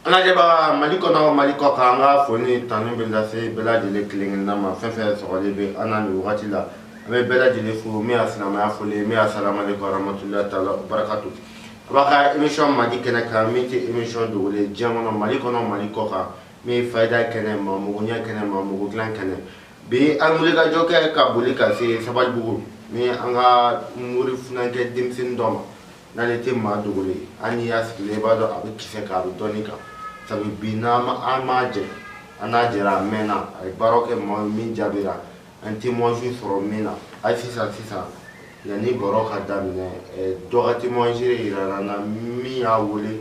an lajɛbaga mali kɔnɔ mali kɔ kan an ka foli tanu bɛ lase bɛɛ lajɛlen kelen-kelenna ma fɛn fɛn sɔrɔlen bɛ an na nin wagati la an bɛ bɛɛ lajɛlen fo min ye silamɛya foli min y'a salamaleku aramatulilahi taala barakatu an b'an ka émission mali kɛnɛ kan min tɛ émission dogolen ye diɲɛ kɔnɔ mali kɔnɔ mali kɔ kan min ye fayida kɛnɛ maa mago ɲɛ kɛnɛ maa mago dilan kɛnɛ bi an wulikajɔ kɛ ka boli ka se sabalibugu ni an ka mori funankɛ denmisɛnnin dɔ ma n'ale tɛ maa dogolen ye hali n'i y'a sigilen i b'a dɔn a bɛ kisɛ kan a bɛ dɔnni kan sabu bi n'an an m'a jɛ an n'a jɛra a mɛnna a ye baaraw kɛ maa ye min jaabira an témoignage sɔrɔ min na hali sisan sisan yanni baro ka daminɛ dɔ ka témoignage jirala an na min y'a wele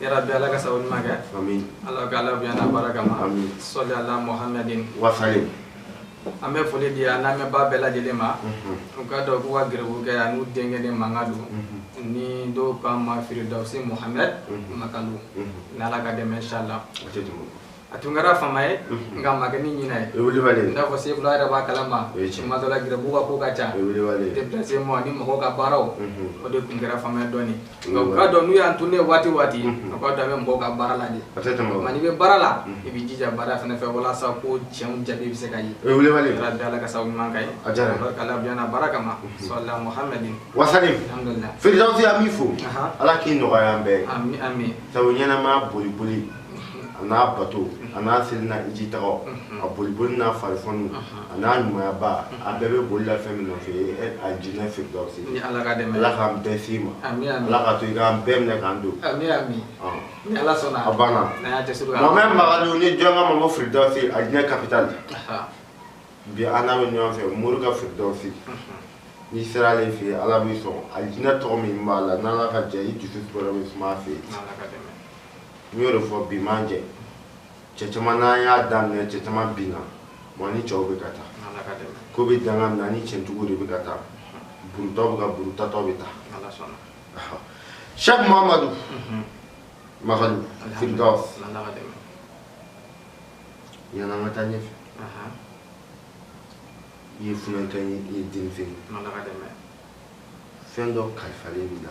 ya rabi ala ka sabu ɲuman kɛ ala ka ala bonya n'a barakama sɔli ala mohamɛdin wasalim an bɛ foli di an lamɛnbaa bɛɛ lajɛlen ma u k'a dɔn k'u ka garibukɛ ani u denkɛnin mankan don ni dɔw k'an ma firidawusi mohamɛd makalu n'ala ka dɛmɛ insala a tun kɛra fama ye nka a ma kɛ ni ɲinɛ ye o ye wilibali ye i n'a fɔ sefula yɛrɛ b'a kalama O ye tiɲɛ. tuma dɔ la garibu ka ko ka ca o ye wilibali ye déplacement ani mɔgɔw ka baaraw o de tun kɛra fama ye dɔɔni nka u k'a dɔn n'u y'an tununnen ye waati o waati u k'a dɔn an bɛ mɔgɔw ka baara la de a tɛ tɛmɛ o nka kan n'i bɛ baara la i b'i jija baara fana fɛ walasa ko tiɲɛw jaabi bɛ se ka ye o ye wilibali ye ya rabi ala ka sababu ɲuman kɛ A diyara n ye. k'ala bila na barakama sɔli ala muhammadin wasalim alhamdulilayi firidawusi an b'i fo Ahan. ala k'i nɔgɔya an bɛɛ ye ami ami sabu ɲɛnamaya boli boli a n'a bato a n'a seli n'a hijitaga a boliboli n'a farifɔni a n'a ɲumayaba a bɛɛ bɛ boli la fɛn min nɔfɛ alijinɛ firidawusi ala k'an bɛɛ se i ma ala k'a to i k'an bɛɛ minɛ k'an don a banna mohamɛd makalu ni jɔn k'a ma firidawusi alijinɛ kapitali bi an n'a bɛ ɲɔgɔn fɛ morikɛ firidawusi n'i sera ale fɛ yen ala b'i sɔn alijinɛ tɔgɔ min b'a la n'ala ka jɛ i dusu tɔɔrɔ bɛ suma a fɛ yen n y'o de fɔ bi m'an jɛ cɛ caman n'an y'a daminɛ cɛ caman binna wa ni cɛw bɛ ka taa ko bɛ danga min na ni cɛntigi de bɛ ka taa buruntɔw bɛ ka burun taatɔ bɛ taa sɛki mamadu makalu firdaus yanni an ka taa ɲɛfɛ i ye funankɛ ye i ye denmisɛn ye fɛn dɔ kalifalen b'i la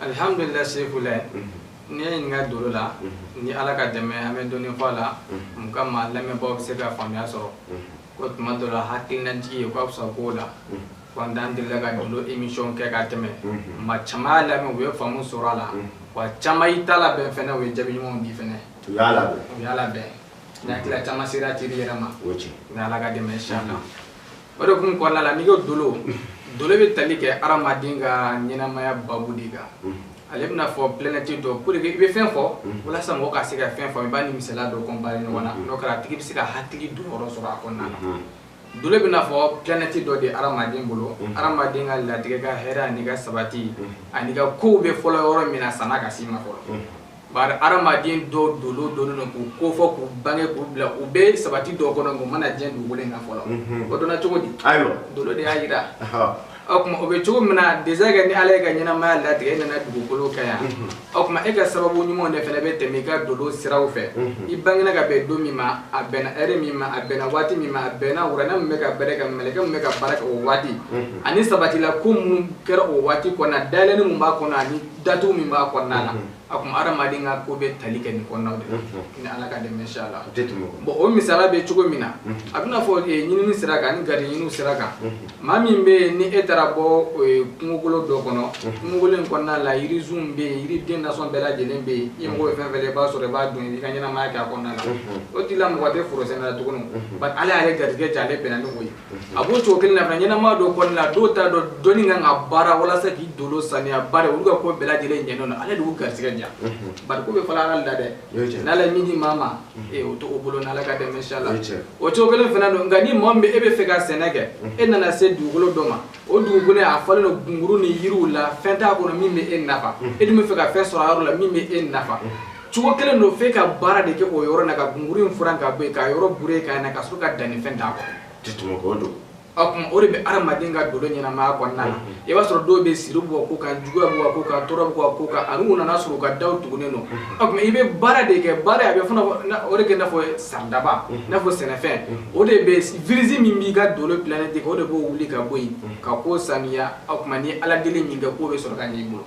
alihamdulila sefula n'i ye n ɲininka dolo la ni ala ka dɛmɛ an bɛ dɔɔni fɔ a la mun ka maa lamɛnbaaw bɛ se ka faamuya sɔrɔ ko tuma dɔ la hakilinajigi ye k'a fisa k'o la n'o t'an delila ka dolo emisiyɔn kɛ ka tɛmɛ maa caman y'a lamɛn u ye faamu sɔrɔ a la wa caman y'i ta labɛn fɛnɛ u ye jaabi ɲumanw di fɛnɛ u y'a labɛn u y'a labɛn n'a tila caman sera teri yɛrɛ ma ni ala ka dɛmɛ insala o de kun kɔnɔna la n'i ko dolo dolo bɛ tali kɛ hadamaden ka ɲɛnamaya babu de kan ale bɛna fɔ planète dɔ pour que i bɛ fɛn fɔ walasa mɔgɔ ka se ka fɛn fɔ i b'a ni misala dɔ comparer ɲɔgɔn na n'o kɛra a tigi bɛ se ka hakili don yɔrɔ sɔrɔ a kɔnɔna na dolo bɛna fɔ planète dɔ de hadamaden bolo hadamaden ka latigɛ ka hɛrɛ ani ka sabati ani ka kow bɛ fɔlɔ yɔrɔ min na san'a ka s'i ma fɔlɔ Bari hadamaden dɔw dɔnnen dɔnnen don k'u kofɔ k'u bange k'u bila u bɛ sabati dɔw kɔnɔ u ma na diɲɛ dugukolo in kan fɔlɔ, unhun, o dɔnna cogo di? Ayiwa, dolo de y'a jira, ɔhɔ, o tuma o bɛ cogo min na déjà kɛ ni Ala ye e ka ɲɛnamaya latigɛ e nana dugukolo kan yan, unhun, o tuma e ka sababu ɲumanw de fana bɛ tɛmɛ i ka dolo siraw fɛ, unhun, i bangera ka bɛn don min ma a bɛnna heure min ma a bɛnna waati min ma a bɛnna wuranɛ min bɛ ka baara kɛ mɛlɛkɛ min bɛ ka baara kɛ o waati, unhun, ani sabatila ko minnu kɛra o waati kɔnɔna dayɛlɛni min b'a kɔnɔ ani datugu min b'a kɔnɔna na o tuma adamaden ka ko bɛ tali kɛ nin kɔnɔnaw de la ni ala ka dɛmɛ inchallah bɔn o misala bɛ cogo min na a bɛna fɔ ɲinini sira kan ni gari ɲininiw sira kan maa min bɛ yen ni e taara bɔ kungokolo dɔ kɔnɔ kungokolo in kɔnɔna la yirisunw bɛ yen yiriden nasɔn bɛɛ lajɛlen bɛ yen i mago fɛn fɛn i b'a sɔrɔ i b'a dun i ka ɲɛnamaya kɛ a kɔnɔna la o tigi la mago tɛ forosɛnɛ la tuguni bari ala y'ale garijɛgɛ diya ale bɛnna ni o ye a b'o cogo kelen na fana ɲɛnama dɔ kɔnɔna na dɔw t'a dɔn dɔnni kan ka baara walasa k'i dolo saniya bari olu ka ko bɛɛ lajɛlen ɲɛnen don ala de y'u garisigɛ diya bari ko bɛ fɔlɔ ala la dɛ n'ala ye min di maa ma ee o to o bolo n'ala ka dɛmɛ inchallah o cogo kelen fana don nka ni maa min bɛ e bɛ fɛ ka sɛnɛ kɛ e nana se dugukolo dɔ ma o dugukolo a falen don gunguru ni yiriw la fɛn t'a kɔnɔ min bɛ e nafa e dun bɛ fɛ ka fɛn sɔrɔ a yɔrɔ la min bɛ e nafa cogo kelen don f'e ka baara de kɛ o yɔrɔ na ka gunguru in furan ka bɔ yen k'a yɔrɔ bure k'a na ka sɔrɔ ka dannifɛn d'a kɔrɔ tɛ tɛmɛ k'o don o tuma o de bɛ adamaden ka dolo ɲɛnamaya kɔnɔna na i b'a sɔrɔ dɔw bɛ siri b'u ko kan juguya b'u ko kan tɔɔrɔ b'u ko kan ani u nana sɔrɔ u ka daw tugunnen don o tuma i bɛ baara de kɛ baara a bɛ fana o de kɛ i n'a fɔ saridaba i n'a fɔ sɛnɛfɛn o de bɛ virisi min b'i ka dolo planète kɔnɔ o de b'o wuli ka bɔ yen ka k'o saniya o tuma ni ala deli min kɛ k'o bɛ sɔrɔ ka ɲɛ i bolo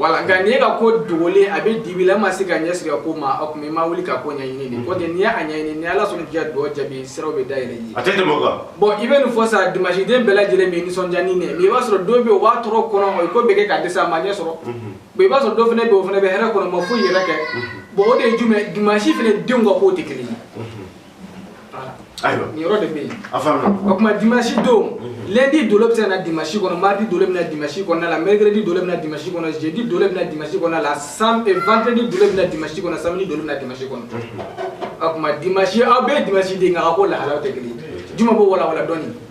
Wala nka n'i ka ko dogolen a bɛ dibi la ma se ka ɲɛ sɔrɔ ko ma o tuma i ma wuli ka ko ɲɛɲini nin ko tɛ n'i y'a ɲɛɲini ni ala sɔnna n'i y'a dɔn jaabi siraw bɛ dayɛlɛ i ye a tɛ bɔn i bɛ nin fɔ sa dimansiden bɛɛ lajɛlen bɛ nisɔndiya ni nin i b'a sɔrɔ dɔ bɛ o b'a tɔɔrɔ kɔnɔ o ko bɛɛ kɛ ka dɛsɛ a ma ɲɛ sɔrɔ i b'a sɔrɔ dɔ fana bɛ o fana bɛ hɛrɛ kɔnɔ ma foyi yɛrɛ kɛ bon o de ye jumɛn dimansi fana denw ka ko tɛ kelen ye ayiwa nin yɔrɔ de bɛ yen a faamuya o tuma dimanche don lundi dolo bɛ se ka na dimanche kɔnɔ mardi dolo bɛ na dimanche kɔnɔna la mercredi dolo bɛ na dimanche kɔnɔ jeudi dolo bɛ na dimanche kɔnɔna la sam eh, vendredi dolo bɛ na dimanche kɔnɔ samedi dolo bɛ na dimanche kɔnɔ o tuma dimanche aw bɛɛ ye dimanche den nka a ko lahalaw tɛ kelen ye juma b'o walawala dɔɔni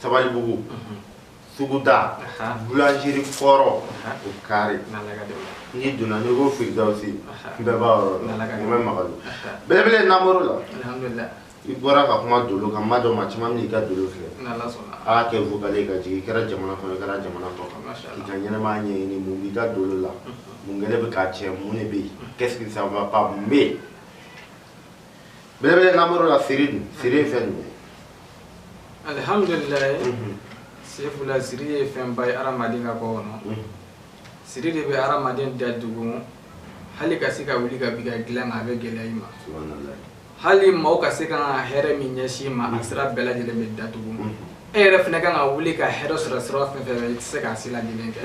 Sabalibugu suguda boulangerie kɔrɔ o kare n'i donna n'i ko Firidawusi bɛɛ b'a yɔrɔ dɔn n bɛ magali belebele namoro la i bɔra ka kuma dolo kan maa dɔ maa caman min i ka dolo filɛ a kɛ vocal ka jigin i kɛra jamana kɔnɔ i kɛra jamana kɔkan i ka ɲɛnɛmaya ɲɛɲini mun b'i ka dolo la mun kɛlen bɛ k'a tiɲɛ mun de bɛ yen qu'est-ce qui ça va pas mun bɛ yen belebele namoro la siri dun siri ye fɛn jumɛn ye alihamudulilayi sefula siri ye fɛnba ye adamaden ka ko kɔnɔ siri de bɛ adamaden da dugu hali ka se ka wuli ka bi ka dilan a bɛ gɛlɛya i ma hali maaw ka se ka hɛrɛ min ɲɛsin i ma a sira bɛɛ lajɛlen bɛ datugu e yɛrɛ fɛnɛ kan ka wuli ka hɛrɛ sɔrɔ sira fɛn fɛn fɛ i tɛ se k'a si ladilen kɛ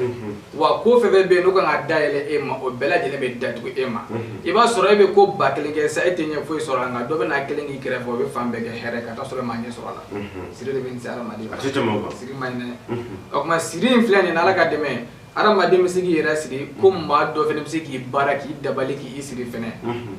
wa ko fɛn fɛn bɛ yen n'o kan ka dayɛlɛ e ma o bɛɛ lajɛlen bɛ datugu e ma i b'a sɔrɔ e bɛ ko ba kelen kɛ sa e tɛ ɲɛ foyi sɔrɔ a nka dɔ bɛna kelen k'i kɛrɛfɛ o bɛ fan bɛɛ kɛ hɛrɛ ka taa sɔrɔ e ma ɲɛ sɔrɔ a la siri de bɛ nin lase hadamaden ma a tɛ tɛmɛ o kan siri man ɲi dɛ o tuma siri in filɛ nin ye n'ala ka dɛmɛ ye Adamaden bɛ se k'i yɛrɛ siri ko maa dɔ fɛnɛ bɛ se k'i baara k'i dabali k'i siri fɛnɛ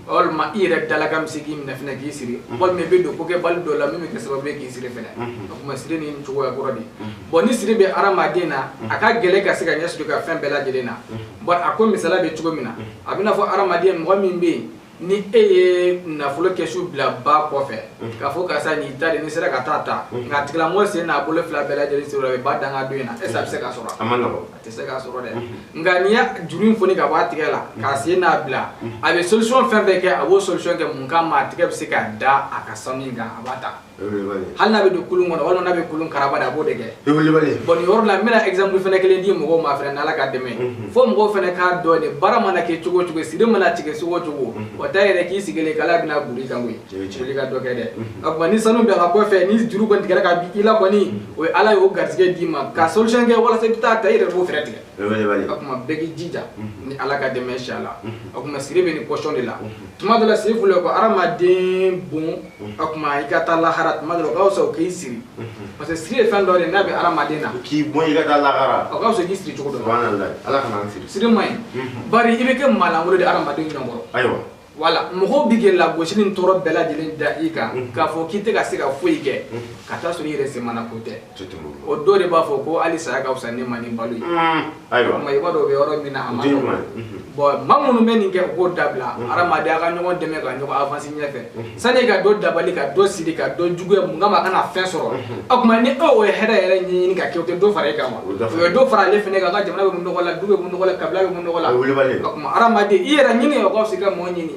walima i yɛrɛ dalakan bɛ se k'i minɛ fɛnɛ k'i siri walima i bɛ don kokɛbali dɔ la min bɛ kɛ sababu ye k'i siri fɛnɛ o tuma siri ni cogoya kɔrɔ de bon ni siri bɛ hadamaden na a ka gɛlɛn ka se ka ɲɛ sɔrɔ i ka fɛn bɛɛ lajɛlen na bɔn a ko misali bɛ cogo min na a b'i n'a fɔ hadamaden mɔgɔ min bɛ yen ni e ye nafolo kɛsu bila ba kɔfɛ k'a fɔ karisa nin i ta de n'i sera ka taa ta nka a tigilamɔgɔ sen n'a bolo fila bɛɛ lajɛlen siri a bɛ ba dankan dɔ in na est-ce que a bɛ se k'a sɔrɔ a man nɔgɔn a tɛ se k'a sɔrɔ dɛ nka n'i y'a juru in foni ka bɔ a tigɛ la k'a sen nabila a bɛ solution fɛn fɛn kɛ a b'o solution kɛ mun kama a tigɛ bɛ se ka da a ka sanu in kan a b'a ta hali n'a bɛ don kulun kɔnɔ walima n'a bɛ kulun karaba de a b'o de kɛ bɔn nin yɔrɔ la n bɛna exemple fɛnɛ kelen di mɔgɔw ma fɛnɛ n'ala ka dɛmɛ mhm. fo mɔgɔw fɛnɛ k'a dɔn de baara mana kɛ cogo cogo siri mana tigɛ cogo cogo mhm. o t'a yira k'i sigilen k'ala bɛna boli kan koyi wuli ka dɔ kɛ dɛ mhm. o tuma ni sanu bɛ a ka kɔfɛ ni juru kɔni tigɛra ka bɔ i la kɔni o ye ala y'o garisɛgɛ d'i ma ka solution kɛ walasa i bɛ taa ta i yɛrɛ b'o fɛɛrɛ tigɛ o tuma bɛɛ k'i jija ni ala ka dɛmɛ inshallah o tuma siri bɛ nin position de la tuma dɔ la siri fɔlɔ ko hadamaden bon o tuma i ka taa lahara tuma dɔ la o ka fisa o k'i siri parce que siri ye fɛn dɔ de n'a bɛ hadamaden na k'i bɔ i ka taa lahara o ka fisa k'i siri cogo dɔ la ala kana an siri siri man ɲi bari i bɛ kɛ maalankolon de hadamaden ɲɔgɔn kɔrɔ ayiwa voilà mɔgɔw bɛ ka lagosi ni tɔɔrɔ bɛɛ lajɛlen da i kan k'a fɔ k'i tɛ ka se ka foyi kɛ ka taa sɔrɔ i yɛrɛ semana ko tɛ o dɔ de b'a fɔ ko hali saya ka fisa ne ma ni balo ye mm. ayiwa i b'a dɔn o bɛ yɔrɔ min na a man nɔgɔn mm-hmm. bɔn maa minnu bɛ nin kɛ u k'o dabila mm-hmm. hadamaden a ka ɲɔgɔn dɛmɛ ka ɲɔgɔn avansi ɲɛfɛ mm-hmm. sani ka dɔ dabali ka dɔ siri ka dɔ juguya mun kama a kana fɛn sɔrɔ o tuma ni o ye hɛrɛ yɛrɛ ɲɛɲini ka kɛ o tɛ dɔ fara e kan wa o ye dɔ fara ale fɛnɛ kan ka jamana bɛ bɔ nɔgɔ la du bɛ bɔ nɔgɔ la kabila bɛ bɔ nɔgɔ la o tuma hadamaden i yɛrɛ ɲini o ka fisa i ka mɔɔ ɲini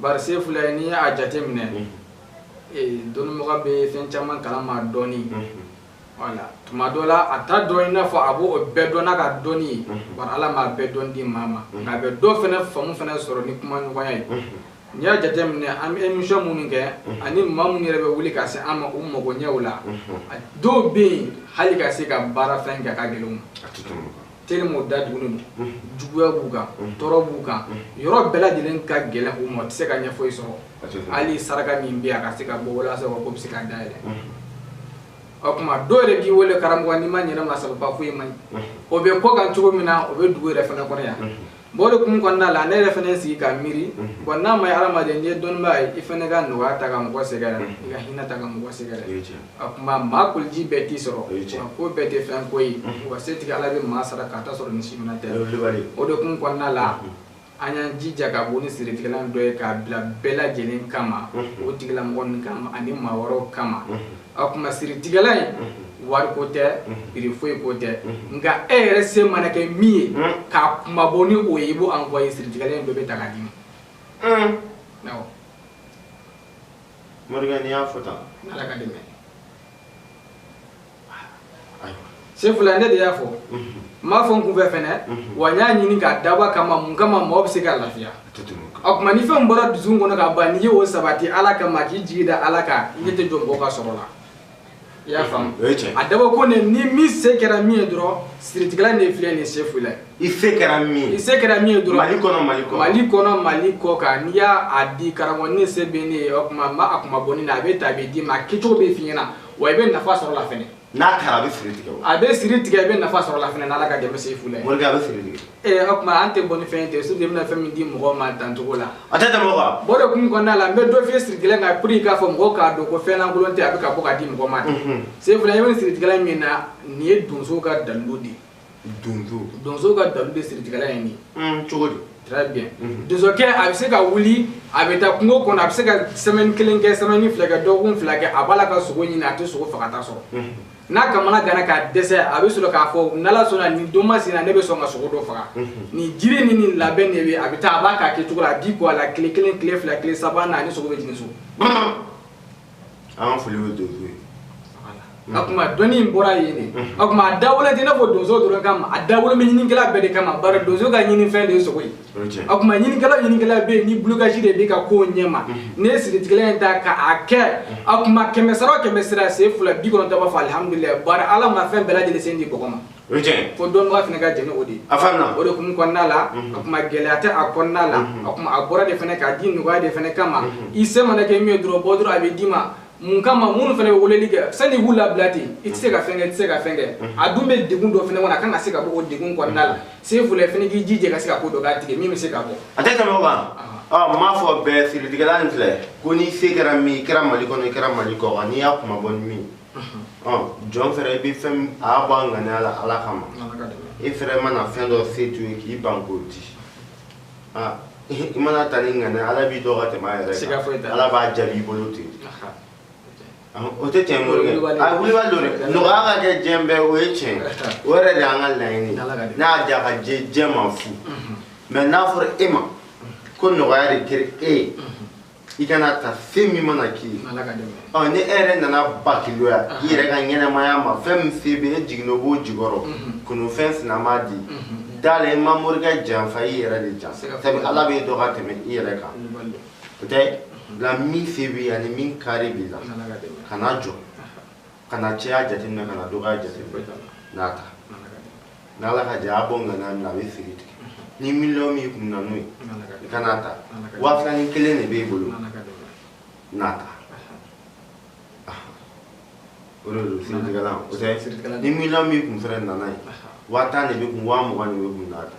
Bari Sefula n'i y'a jate minɛ, unhun, ee dɔnnimɔgɔ bɛ fɛn caman kalama dɔɔni, unhun, wala, tuma dɔ la a t'a dɔn i n'a fɔ a b'o bɛɛ dɔn n'a ka dɔnni ye, unhun, bari Ala m'a bɛɛ dɔn di maa ma, unhun, nka a bɛ dɔ fɛnɛ faamu fɛnɛ sɔrɔ ni kumaɲɔgɔnya ye, unhun, n'i y'a jate minɛ an bɛ émission minnu kɛ, unhun, ani maa minnu yɛrɛ bɛ wuli ka se an ma u mago ɲɛw la, unhun, dɔw bɛ yen hali ka se ka baara fɛn kɛ a ka gɛlɛn u ma. tellement da tugulen don juguya b'u kan tɔɔrɔ b'u kan yɔrɔ bɛɛ lajɛlen ka gɛlɛn u ma u tɛ se ka ɲɛ foyi sɔrɔ hali saraka min bɛ yen a ka se ka bɔ walasa u ka ko bɛ se ka dayɛlɛ o tuma dɔw yɛrɛ b'i wele karamɔgɔ n'i ma ɲɛnama sababa foyi man ɲi o bɛ kɔkan cogo min na o bɛ dugu yɛrɛ fana kɔnɔ yan bon o de hukumu kɔnɔna la ne yɛrɛ fana sigi ka miiri bon n'a ma ye hadamaden n'i ye dɔnnibaa ye i fana ka nɔgɔya ta ka mɔgɔ sɛgɛrɛ i ka hinɛ ta ka mɔgɔ sɛgɛrɛ a kuma maa koliji bɛɛ t'i sɔrɔ ko bɛɛ tɛ fɛn ko ye wa setigi ala bɛ maa sara ka ta sɔrɔ ni si minɛ tɛ o de hukumu kɔnɔna la an y'an jija ka bɔ ni siritigɛlan dɔ ye k'a bila bɛɛ lajɛlen kama o tigilamɔgɔ kama ani maa wɛrɛw kama a kuma siritigɛlan in wari ko tɛ prix foyi ko tɛ nka e yɛrɛ se mana kɛ min ye k'a kunmabɔ ni o ye i b'o envoyer siritigɛlan in dɔ bɛ ta k'a d'i ma awɔ morikɛ n'i y'a fɔ tan ala ka dɛmɛ sefula ne de y'a fɔ n m'a fɔ n kunfɛ fɛnɛ wa n y'a ɲini k'a dabɔ kama mun kama mɔgɔ bɛ se ka lafiya o tuma ni fɛn bɔra dusukun kɔnɔ ka ban n'i ye o sabati ala kama k'i jigi da ala kan i ɲɛ tɛ jɔ mɔgɔ ka sɔrɔ la i y'a faamu a dabɔ ko ne ni min se kɛra min ye dɔrɔn siritigɛlan de filɛ nin ye sefula i se kɛra min ye i se kɛra min ye dɔrɔn mali kɔnɔ mali kɔ mali kɔnɔ mali kɔkan n'i y'a di karamɔgɔ ne se bɛ nin ye o tuma n b'a kunmabɔ nin na a bɛ ta a bɛ d'i ma a kɛcogo bɛ f'i ɲɛna wa i bɛ nafa sɔrɔ la fɛnɛ n'a taara a bɛ siri tigɛ o a bɛ siri tigɛ i bɛ nafa sɔrɔ la fɛnɛ n'ala ka dɛmɛ sefula morikɛ a bɛ siri tigɛ ee o tuma an tɛ bɔ ni fɛn ye ten surtout i bɛna fɛn min di mɔgɔw ma dancogo la a tɛ tɛmɛ o kan bon o de hukumu kɔnɔna la n bɛ dɔ f'i ye siritigɛlan kan pour que k'a fɔ mɔgɔw k'a dɔn ko fɛn lankolon tɛ a bɛ ka bɔ ka di mɔgɔ ma de sefula i bɛ nin siritigɛlan min na nin ye donso ka dalilu de ye donso donso ka dalilu de siritigɛlan ye nin ye cogo di très bien mhm. donsokɛ a bɛ se ka wuli a bɛ taa kungo kɔnɔ a bɛ se ka semaine kelen kɛ semaine fila kɛ dɔgɔkun fila kɛ a b'a la ka sogo ɲini a tɛ sogo fagata sɔrɔ mhm. n'a kamanaganna ka dɛsɛ a bɛ sɔrɔ k'a fɔ n'ala sɔnna nin don masina ne bɛ sɔn ka sogo dɔ faga mhm. nin jiri ni nin labɛn de bɛ a bɛ taa a b'a k'a kɛcogo la a b'i ko a la tile kelen tile fila tile saba na a ni sogo bɛ jigin so an foli bɛ donso ye o tuma dɔnni in bɔra yen de o tuma a dabɔlen tɛ i n'a fɔ donso dɔrɔn kama a dabɔlen bɛ ɲininikɛla bɛɛ de kama bari donso ka ɲinifɛn de ye sogo ye o tuma ɲininikɛla o ɲininikɛla bɛ yen ni blocage de b'i ka kow ɲɛma n'i ye siritigɛlan in ta k'a kɛ o tuma kɛmɛ sara o kɛmɛ sara sefula bi kɔnɔntɔn b'a fɔ alihamudulilayi bari ala ma fɛn bɛɛ lajɛlen se di mɔgɔ ma o ye tiɲɛ ko dɔnnibaga fana ka jɛnɛ o de ye a faamuya o de hukumu kɔnɔna la a kuma gɛlɛya tɛ a kɔnɔna la a kuma a bɔra de fana k'a di nɔgɔya de fana kama i se mana kɛ min ye dɔrɔn bɔ dɔrɔn a bɛ d'i ma mun kama minnu fana bɛ weleli kɛ sani k'u labila ten i tɛ se ka fɛn kɛ i tɛ se ka fɛn kɛ a dun bɛ degun dɔ fana kɔnɔ a kan ka se ka bɔ o degun kɔnɔna la sefula fana k'i jija ka se ka ko dɔ k'a tigɛ min bɛ se ka bɔ a tɛ tɛmɛ o kan ɔ m'a fɔ bɛɛ siritigɛlan nin filɛ ko n'i se kɛra min i kɛra mali kɔnɔ i kɛra mali kɔ kan n'i y'a kuma bɔ ni min jɔn fɛnɛ i bɛ fɛn a y'a bɔ a ŋaniya la ala kama i fɛnɛ mana fɛn dɔ se to ye k'i ban k'o di i mana ta ni ŋaniya ala b'i dɔn ka tɛmɛ a yɛrɛ kan ala b'a jaabi i bolo ten o tɛ tiɲɛ morikɛ a wulibali don dɛ nɔgɔya ka kɛ diɲɛ bɛɛ o ye tiɲɛ o yɛrɛ de y'an ka laɲini n'a y'a diya ka diɲɛ diɲɛ ma fu mais n'a fɔra e ma ko nɔgɔya de kɛra e ye i ka n'a ta fɛn min mana k'i ye ɔ ni e yɛrɛ nana bakiloya i yɛrɛ ka ɲɛnɛmaya ma fɛn min se bɛ e jiginna o b'o jigɔrɔ mhm. kunufɛn sinama di mhm. da la i ma morikɛ janfa i yɛrɛ de janfa sabu ala b'e dɔn ka tɛmɛ i yɛrɛ kan o tɛ la min se b'i ani min kari b'i la kana jɔ kana caya jateminɛ kana dɔgɔya jateminɛ n'a ta n'ala ka jɛ a bɔ ŋaniya min na a bɛ siri tigɛ ni miliyɔn b'i kun na n'o ye i ka n'a ta waa fila ni kelen de b'e bolo n'a ta o de don siritigɛlan o tɛ ni miliyɔn b'i kun fɛnɛ na n'a ye waa tan de b'i kun waa mugan de b'i kun n'a ta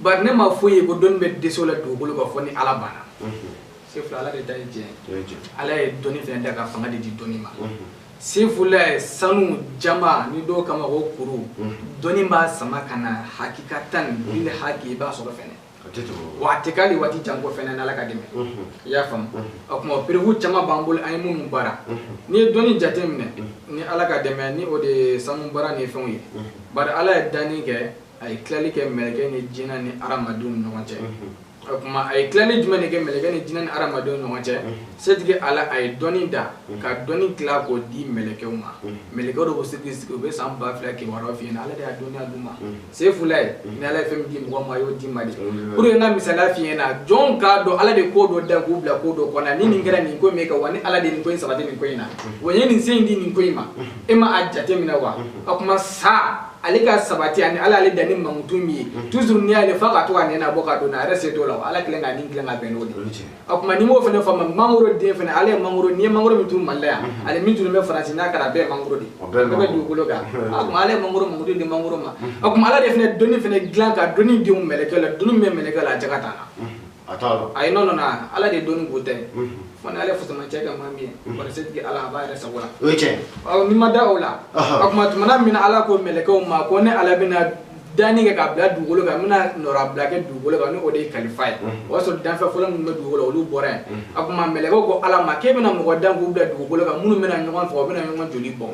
Bari ne ma foyi ye ko dɔnni bɛ dɛsɛ o la dugukolo kan fo ni ala banna sefula ala de ta ye diɲɛ ala ye dɔnni fɛnɛ da ka fanga de di dɔnni ma sefula ye sanu jaman ni dɔw kama o kuru dɔnni b'a sama ka na hakikatan bil haki i b'a sɔrɔ wa a tɛ k'ali waati jan ko fɛnɛ n'ala ka dɛmɛ i y'a faamu o kuma preuve caman b'an bolo an ye minnu baara n'i ye dɔnni jate minɛ ni ala ka dɛmɛ ni o de ye sanu baara ni fɛnw ye bari ala ye danni kɛ a ye tilali kɛ mɛlɛkɛ ni jinɛ ni hadamadenw ni ɲɔgɔn cɛ o kuma a ye tilali jumɛn de kɛ mɛlɛkɛ ni jinɛ ni hadamadenw ni ɲɔgɔn cɛ setigi ala a ye dɔnni da ka dɔnni tila k'o di mɛlɛkɛw ma mɛlɛkɛw de b'o sigi sigi u bɛ san ba fila kibaruyaw f'i ɲɛna ala de y'a dɔnniya d'u ma sefula ye ni ala ye fɛn min di mɔgɔ ma a y'o di ma de pour que n ka misaliya f'i ɲɛna jɔnw k'a dɔn ala de ko dɔ da k'u bila ko dɔ kɔnɔ ni nin kɛra nin ko in bɛ kɛ wa ni ala de nin ko in sabati nin ko in na wa n ye nin se in di nin ko in ma e ma a jate minɛ wa o kuma sa ale ka sabati ani ala ale danni mankutu min ye mhm. toujours n'i y'ale fa ka to ka nɛnɛ bɔ ka don a yɛrɛ se t'o la ala kelen ka nin dilan ka bɛn n'o de o kuma n'i m'o fɛnɛ faamu mangoro den fɛnɛ ala ye mangoro n'i ye mangoro min turu mali la yan mhm. ani min turu bɛ faransi n'a kɛra a bɛɛ ye mangoro de ye o bɛ dugukolo kan o kuma ala ye mangoro mankutu di mangoro ma o mhm. kuma ala de fɛnɛ dɔnni fɛnɛ dilan ka dɔnni don mɛlɛkɛ la dɔnni min bɛ mɛlɛkɛ la a jaka t'a la a t'a dɔn ayi non non ala de dɔnni b'u ta ye fo n'ale fusamancɛ kɛ maa min ye kɔni setigi ala a b'a yɛrɛ sago la o ye tiɲɛ ɔ n'i ma da o la o tuma tumana min na ala ko mɛlɛkɛw ma ko ne ala bɛna danni kɛ k'a bila dugukolo kan n bɛna nɔrabila kɛ dugukolo kan ni o de ye kalifa ye o y'a sɔrɔ danfɛn fɔlɔ minnu bɛ dugukolo olu bɔra yen a tuma mɛlɛkɛw ko ala ma k'e bɛna mɔgɔ dan k'u bila dugukolo kan minnu bɛna ɲɔgɔn faga u bɛna ɲɔgɔn joli bɔ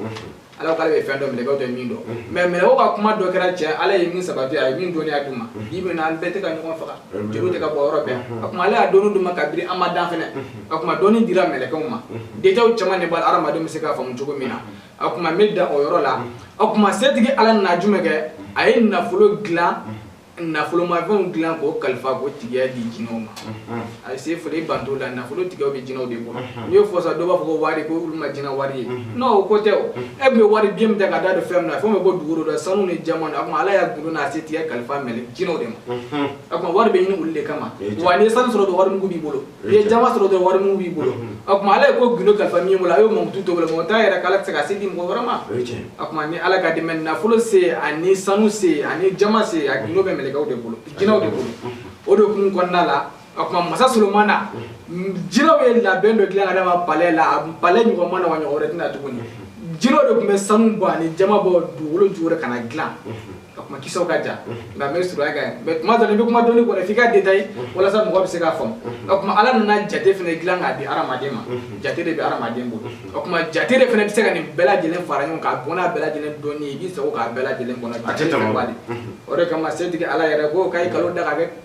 ala k'ale bɛ fɛn dɔn mɛlɛkɛw tɛ min dɔn mɛ mɛlɛkɛw ka kuma dɔ kɛra tiɲɛ ala ye min sabati a ye min dɔnniya d'u ma bi bi in na an bɛɛ tɛ ka ɲɔgɔn faga joliw tɛ ka bɔ yɔrɔ bɛɛ a kuma ale y'a dɔnni d'u ma kabini an ma dan fana a kuma dɔnni dira mɛlɛkɛw ma detayi caman de b'a hadamaden bɛ se k'a faamu cogo min na a kuma n bɛ dan o yɔrɔ la a kuma setigi ala nana jumɛn kɛ a ye nafolo dilan nafolomafɛnw dilan k'o kalifa k'o tigiya di jinɛw ma a se foli banto la nafolo tigiyaw bɛ jinɛw de bolo n'i y'o fɔ sa dɔ b'a fɔ ko wari ko olu ma jinɛ wari ye non o ko tɛ o e tun bɛ wari biye min ta ka da don fɛn min na fɛn bɛ bɔ dugukolo dɔ sanu ni jaman a tuma ala y'a gundo n'a setigiya kalifa mɛlɛ jinɛw de ma a tuma wari bɛ ɲini olu de kama wa n'i ye sanu sɔrɔ dɔrɔn wari mugu b'i bolo i ye jaman sɔrɔ dɔrɔn wari mugu b'i bolo o tuma ala ye ko gundo kalifa min bolo a y'o mankutu to bolo mɔgɔ t'a yɛrɛ k'ala tɛ se ka se di mɔgɔ wɛrɛ ma o tuma ni ala ka dɛmɛ nafolo se ani sanu se ani jaman se a gundo bɛ mɛlɛkɛw de bolo jinɛw de bolo o de kun kɔnɔna la o tuma masa solomana jinɛw ye labɛn dɔ dilan ka d'a ma palɛ la a palɛ ɲɔgɔn ma na wa ɲɔgɔn wɛrɛ tɛna tuguni jinɛw de tun bɛ sanu bɔ ani jaman bɔ dugukolo jukɔrɔ ka na dilan ka kuma kisaw ka jan nka n b'a surunya ka ye mɛ tuma dɔ la i bɛ kuma dɔnni kɔnɔ f'i k'a detaye walasa mɔgɔ bɛ se k'a faamu o tuma ala nana jate fana dilan k'a di hadamaden ma jate de bɛ hadamaden bolo o tuma jate de fana bɛ se ka nin bɛɛ lajɛlen fara ɲɔgɔn kan bɔn n'a bɛɛ lajɛlen dɔnni ye i b'i sago k'a bɛɛ lajɛlen kɔnɔ o de kama setigi ala yɛrɛ ko k'a ye kalo da ka kɛ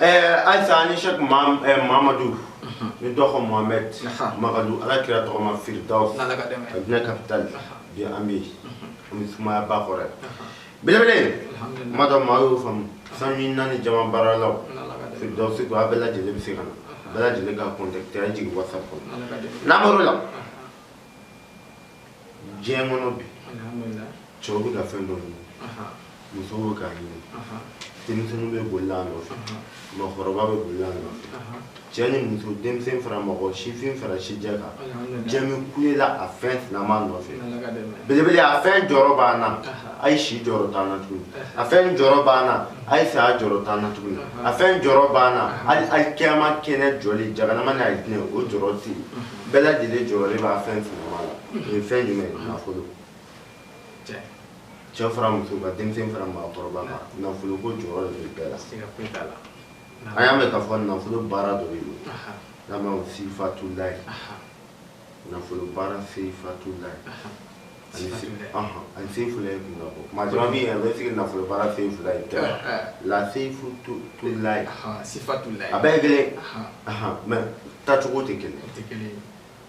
Ɛɛ ayisa ani sɛki mamadu ni dɔgɔ mohamɛdi mamadu ala kira tɔgɔma feereda kapitali bi an bɛ an sumaya ba kɔrɔ belebele kuma dɔ maa y'o faamu sanu ani jaman baaralaw da se a bɛɛ lajɛlen bɛ se ka na bɛɛ lajɛlen ka kɔntakite jigin watisapu nimɔrɔ la diɲɛ kɔnɔ bi cɛw bɛ ka fɛn dɔ ɲini musow bɛ k'a ɲini denmisɛnninw bɛ boli a nɔfɛ mɔgɔkɔrɔba bɛ boli a nɔfɛ cɛ ni muso denmisɛn fara mɔgɔ sifin fara sijɛ kan diɲɛ bɛ kule la a fɛn sinama nɔfɛ belebele a fɛn jɔyɔrɔ b'an na a ye si jɔyɔrɔ t'an na tuguni a fɛn jɔyɔrɔ b'an na a ye saya jɔyɔrɔ t'an na tuguni a fɛn jɔyɔrɔ b'an na hali kiyama kɛnɛ jɔli jaganama ni alijinɛ o jɔyɔrɔ tɛ yen bɛɛ lajɛlen jɔyɔrɔ b'a fɛn fɛnma la o ye fɛn jumɛn ye nafolo cɛ fara muso kan denmisɛn fara maakɔrɔba kan nafolo ko jɔyɔrɔ de bɛ bɛɛ la an y'a mɛn k'a fɔ nafolo baara dɔ bɛ yen n'an b'a fɔ sifatulayi nafolo baara sifatulayi ani sefulayi kun bɔ maa caman bɛ yen a bɛ se ka nafolo baara sefulayi tɛ la sefutulayi sifatulayi a bɛɛ ye kelen mɛ tacogo tɛ kelen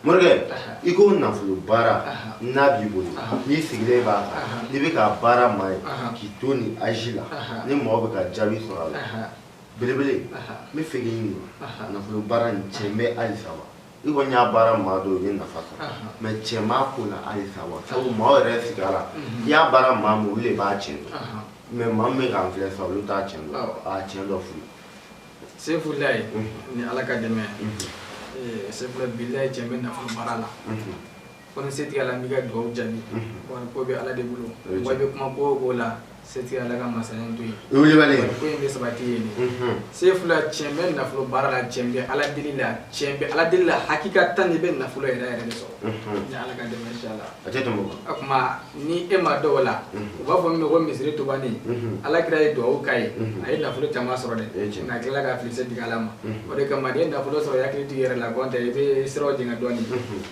morikɛ i ko nafolo baara n'a b'i bolo n'i sigilen b'a kan n'i bɛ k'a baara maa ye k'i to nin azi la ni mɔgɔ bɛ ka jaabi sɔrɔ a la belebele n bɛ fɛ k'i ɲininka nafolo baara nin tiɲɛ bɛ halisa wa i kɔni y'a baara maa dɔ ye nafa sɔrɔ mɛ tiɲɛ b'a ko la halisa wa sabu maa yɛrɛ sigi a la i y'a baara maa min olu de b'a tiɲɛ dɔn mɛ maa min bɛ k'an filɛ sa olu t'a tiɲɛ dɔn a tiɲɛ dɔ f'u ye sefulayi ni ala ka dɛmɛ sefula bilayi tiɲɛ bɛ nafolo baara la ko ni setigi ala b'i ka dugawu jaabi wari ko bɛ ala de bolo wa bɛ kuma ko o ko la setigi ala ka masaya to yen ko in bɛ sabati ye de sefula tiɲɛ bɛ nafolo baara la tiɲɛ bɛ ala deli la tiɲɛ bɛ ala deli la hakikatan i bɛ nafolo yɛrɛ yɛrɛ de sɔrɔ ni ala ka dɛmɛ inshallah a kuma ni e maa dɔw la u b'a fɔ min ma ko misiri tubani ala kira ye dugawu k'a ye a ye nafolo caman sɔrɔ dɛ nka a tilala ka fili setigi ala ma o de kama n'i ye nafolo sɔrɔ i hakili t'i yɛrɛ la n'o tɛ i bɛ siraw jɛngɛ dɔɔni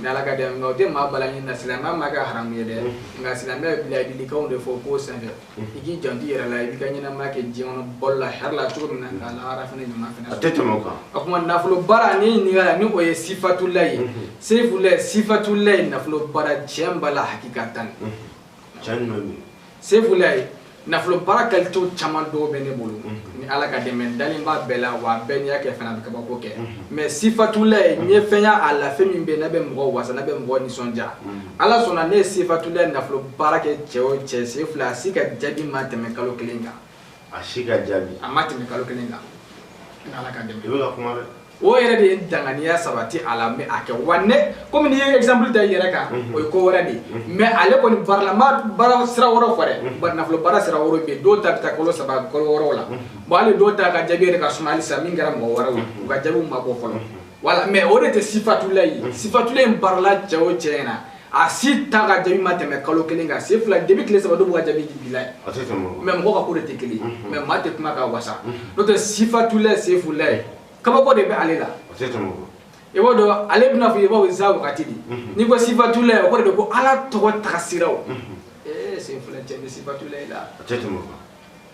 ni ala ka dɛmɛ nka o tɛ maa bali ɲini na silamɛya m'a kɛ haramu ye dɛ nka silamɛya bɛ laadilikanw de fɔ ko senfɛ i k'i janto i yɛrɛ la i b'i ka ɲɛnamaya kɛ diɲɛ kɔnɔ balo la hɛrɛ la cogo min na k'a lahara fana ɲuman fana a tɛ tɛmɛ o kan a kuma nafolo baara ni ɲininka la ni o ye sifatulayi sefulayi sifatulayi nafolo baara tiɲɛ b'a la hakikatan tiɲɛ ɲuman bɛ yen sefulayi nafolo baara kalitew caman dɔw bɛ ne bolo ni ala ka dɛmɛ n dalen b'a bɛɛ la wa a bɛɛ n'i y'a kɛ fana a bɛ kabako kɛ mɛ sifatulayi n ye fɛn ye a la fɛn min bɛ yen n'a bɛ mɔgɔ wasa n'a bɛ mɔgɔ nisɔndiya ala sɔnna ne ye sifatulayi nafolo baara kɛ cɛ o cɛ sefula a si ka jaabi ma tɛmɛ kalo kelen kan a si ka jaabi a ma tɛmɛ kalo kelen kan ni ala ka dɛmɛ i bɛ ka kuma dɛ o yɛrɛ de ye danganiya sabati a la mɛ a kɛ wa ne komi n'i ye exemple ta i yɛrɛ kan o ye ko wɛrɛ de ye mɛ ale kɔni baarala n ma baara sira wɛrɛw fɔ dɛ bari nafolo baara sira wɛrɛw bɛ yen dɔw ta bɛ taa kalo saba kalo wɔɔrɔw la bon hali dɔw ta ka jaabi yɛrɛ ka suma halisa min kɛra mɔgɔ wɛrɛw ye u ka jaabiw ma bɔ fɔlɔ wala mɛ o de tɛ sifatulayi sifatulayi baarala cɛ o cɛ ɲɛna a si ta ka jaabi ma tɛmɛ kalo kelen kan sefula depuis tile saba dɔw b'u ka jaabi di bilayi mɛ mɔgɔ ka ko de tɛ kelen mɛ maa tɛ kuma ka wasa n'o tɛ sifatulayi sefulayi kabako de bɛ ale la i b'o dɔn ale bɛna fɔ i b'o za wagati de n'i ko sifatulayi o kɔrɔ de ko ala tɔgɔ tagasiraw ee sefula tiɲɛ bɛ sifatulayi la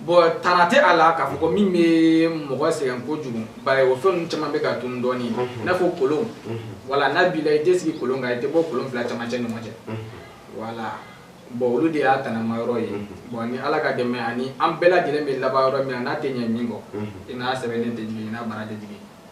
bon tana tɛ a la k'a fɔ ko min bɛ mɔgɔ sɛgɛn kojugu bari o fɛn ninnu caman bɛ ka tunu dɔɔni i n'a fɔ kolon wala n'a b'i la i tɛ sigi kolon kan i tɛ bɔ kolon fila camancɛ ɲɔgɔn cɛ wala bon olu de y'a tanama yɔrɔ ye bon ni ala ka dɛmɛ ani an bɛɛ lajɛlen bɛ laban yɔrɔ min na n'a tɛ ɲɛ min kɔ i n'a sɛbɛnnen tɛ jigin i n'a baara tɛ jigin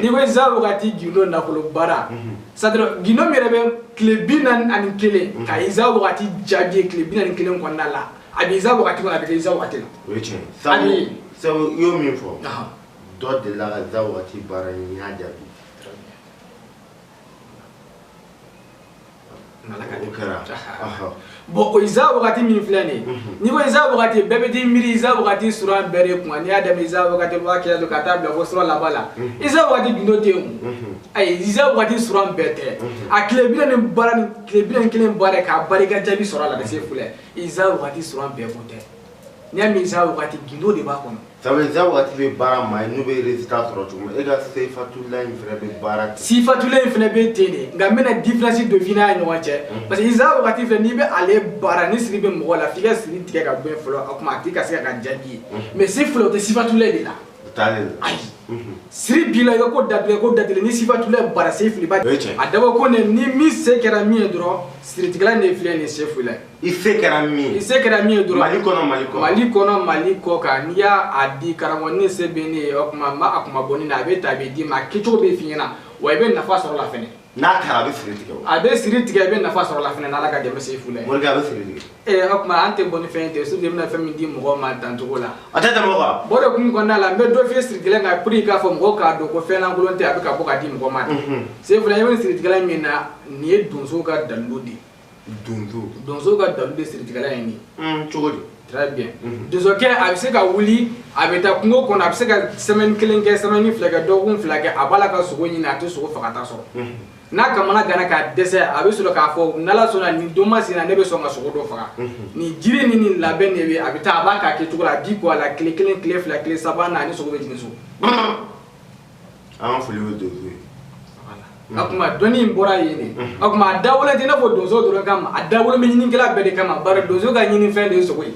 n'i ko iza wagati gindo nafolo baara c'est-à-dire gindo min yɛrɛ bɛ tile bi naani ani kelen ka iza wagati jaabi ye tile bi naani kelen kɔnɔna la a bɛ iza wagati kɔnɔ a bɛ kɛ iza wagati la o ye tiɲɛ sabu sabu i y'o min fɔ dɔ delila ka iza wagati baara a y'a jaabi bon o iza wagati min filɛ nin n'i ko iza wagati bɛɛ bɛ t'i miiri iza wagati sura bɛɛ de kun n'i y'a daminɛ iza wagati waa kɛlɛ don ka taa bila fo sura laban la iza wagati gindo tɛ yen ayi iza wagati sura bɛɛ tɛ a tile bi naani ni kelen baara k'a barika jaabi sɔrɔ a la ka se fula iza wagati sura bɛɛ ko tɛ n'i y'a mɛn iza wagati gindo de b'a kɔnɔ sabu iza wagati bɛ baara ma ye n'u bɛ résultat sɔrɔ cogo min e ka sifatula in fana bɛ baara ten sifatula in fana bɛ ten de nka n bɛna différence dɔ f'i n'a ɲɔgɔn cɛ parce que iza wagati filɛ n'i bɛ ale baara ni siri bɛ mɔgɔ la f'i ka siri tigɛ ka bɔ yen fɔlɔ a kuma a tigi ka se ka ka jaabi ye mais se fula o tɛ sifatula de la siri b'i la i ka ko datigɛ ko datigɛ ni sifatula baara se filiba a dabɔ ko ne ni min se kɛra min ye dɔrɔn siritigɛla ne filɛ nin se fula i se kɛra min i se kɛra min ye dɔrɔn mali kɔnɔ mali kɔnɔ mali kɔnɔ mali kɔ kan n'i y'a a di karamɔgɔ ni se bɛ ne ye o kuma n b'a a kuma bɔ ne na a bɛ ta a bɛ d'i ma a kɛcogo bɛ f'i ɲɛna wa i bɛ nafa sɔrɔ a la fɛnɛ n'a taara a bɛ siri tigɛ o a bɛ siri tigɛ i bɛ nafa sɔrɔ la fɛnɛ n'ala ka dɛmɛ se fula ye morikɛ a bɛ siri tigɛ ee o kuma an tɛ bɔ ni fɛn tɛ surtout i bɛna fɛn min di mɔgɔ ma dancogo la a tɛ tɛmɛ o kan bon o de kun kɔnɔna la n bɛ dɔ f'i ye siritigɛla kan pour k'a fɔ mɔgɔw k'a dɔn ko fɛn lankolon tɛ a bɛ ka bɔ ka di mɔgɔ ma se fula i bɛ siritigɛla min na nin ye donso ka dalilu de ye donso donso ka dalilu de siritigɛla ye nin ye cogo di très bien mhm. donsokɛ a bɛ se ka wuli a bɛ taa kungo kɔnɔ a bɛ se ka semaine kelen kɛ semaine fila kɛ dɔgɔkun fila kɛ a b'a la ka sogo ɲini a tɛ sogo fagata sɔrɔ mhm. n'a kamanaganna ka dɛsɛ a bɛ sɔrɔ k'a fɔ n'ala sɔnna nin don masina ne bɛ sɔn ka sogo dɔ faga mhm. nin jiri ni nin labɛn de bɛ a bɛ taa a b'a k'a kɛcogo la a di ko a la tile kelen tile fila tile saba na a ni sogo bɛ jigin so an ka foli bɛ donso ye a kuma dɔnni in bɔra yen de a kuma a dabɔlen tɛ i n'a fɔ donso dɔrɔn kama a dabɔlen bɛ ɲininikɛla bɛɛ de kama bari donso ka ɲinifɛn de ye sogo ye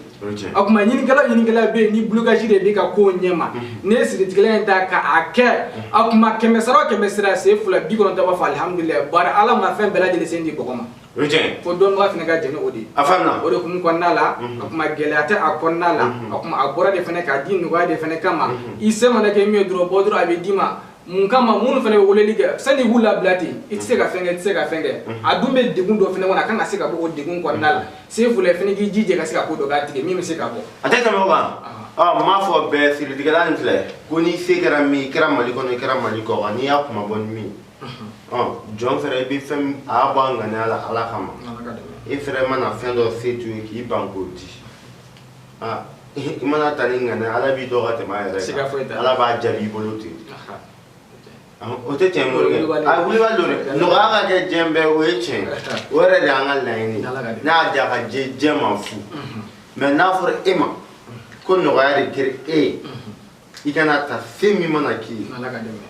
a kuma ɲininikɛla o ɲininikɛla bɛ yen ni blocage de b'i ka kow ɲɛma n'i ye siritigɛla in ta k'a kɛ a kuma kɛmɛ sara o kɛmɛ sara se fula bi kɔnɔntɔn b'a fɔ alihamudulilayi bari ala ma fɛn bɛɛ lajɛlen sen di bɔgɔ ma o ye tiɲɛ ye fo dɔnnibaga fana ka jɛn ni o de ye a faamuya o de kun kɔnɔna la a kuma gɛlɛya tɛ a kɔnɔna la a kuma a bɔra de fana k'a di nɔgɔya de fana kama i se mana kɛ min ye dɔrɔn bɔ dɔrɔn a bɛ d'i ma mun kama minnu fana bɛ weleli kɛ sani i k'u labila ten i tɛ se ka fɛn kɛ i tɛ se ka fɛn kɛ a dun bɛ degun dɔ fana kɔnɔ a kan ka se ka bɔ o degun kɔnɔna la se fula fana k'i jija ka se ka ko dɔ k'a tigi ye min bɛ se ka bɔ a tɛ tɛmɛ o kan n m'a fɔ bɛɛ siritigɛla nin filɛ ko n'i se kɛra min i kɛra mali kɔnɔ i kɛra mali kɔ kan n'i y'a kuma bɔ ni min jɔn fɛnɛ i bɛ fɛn a y'a bɔ a ŋaniya la ala kama i fɛnɛ mana fɛn dɔ se to ye k'i ban k'o di i mana ta ni ŋaniya ala b'i dɔn ka tɛmɛ a yɛrɛ kan ala b'a jaabi i bolo ten o tɛ tiɲɛ morikɛ a wulibali don dɛ nɔgɔya ka kɛ diɲɛ bɛɛ o ye tiɲɛ o yɛrɛ de y'an ka laɲini n'a y'a diya ka diɲɛ ma fu mɛ n'a fɔra e ma ko nɔgɔya de kɛra e ye i kana ta fɛn min mana k'i ye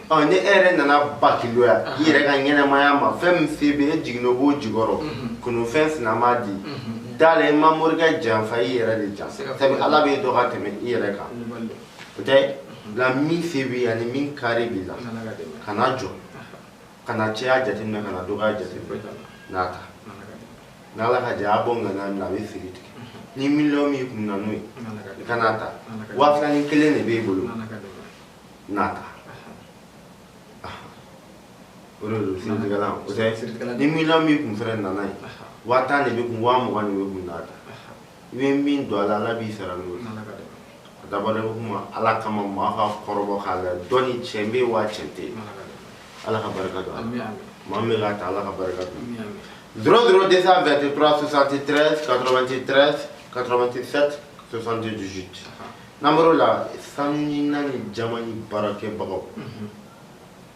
ɔ ni e yɛrɛ nana bakiloya i yɛrɛ ka ɲɛnamaya ma fɛn min se bɛ e jiginna o b'o jukɔrɔ mhm. kunufɛn sina m'a di mhm. da la i ma morikɛ janfa i yɛrɛ de janfa sabu ala b'e dɔn ka tɛmɛ i yɛrɛ kan o tɛ la mhm. min se b'i ani min kari b'i la kana jɔ kana caya jateminɛ kana dɔgɔya jateminɛ n'a ta n'ala ka jɛ a bɔ ŋaniya min na a bɛ siri tigɛ ni miliyɔn b'i kun na n'o ye i ka n'a ta waa fila ni kelen de b'e bolo n'a ta o de don siritigɛlan o tɛ ni miliyɔn b'i kun fɛnɛ na n'a ye waa tan de b'e kun waa mugan de b'e kun n'a ta i bɛ min don ala ala b'i sara n'o a dabɔ kuma ala kama maa ka kɔrɔbɔ k'a la dɔn cɛ bɛ waa cɛ tɛ ala ka barika don maa bɛ ka taa ala ka barika don dɔrɔn dɔrɔn de sa vɛrɛte tura sosante tɛrɛ katoromante tɛrɛ katoromante sɛti sosante dusu n'an bɔra la sanu ni naani jama ni baarakɛbagaw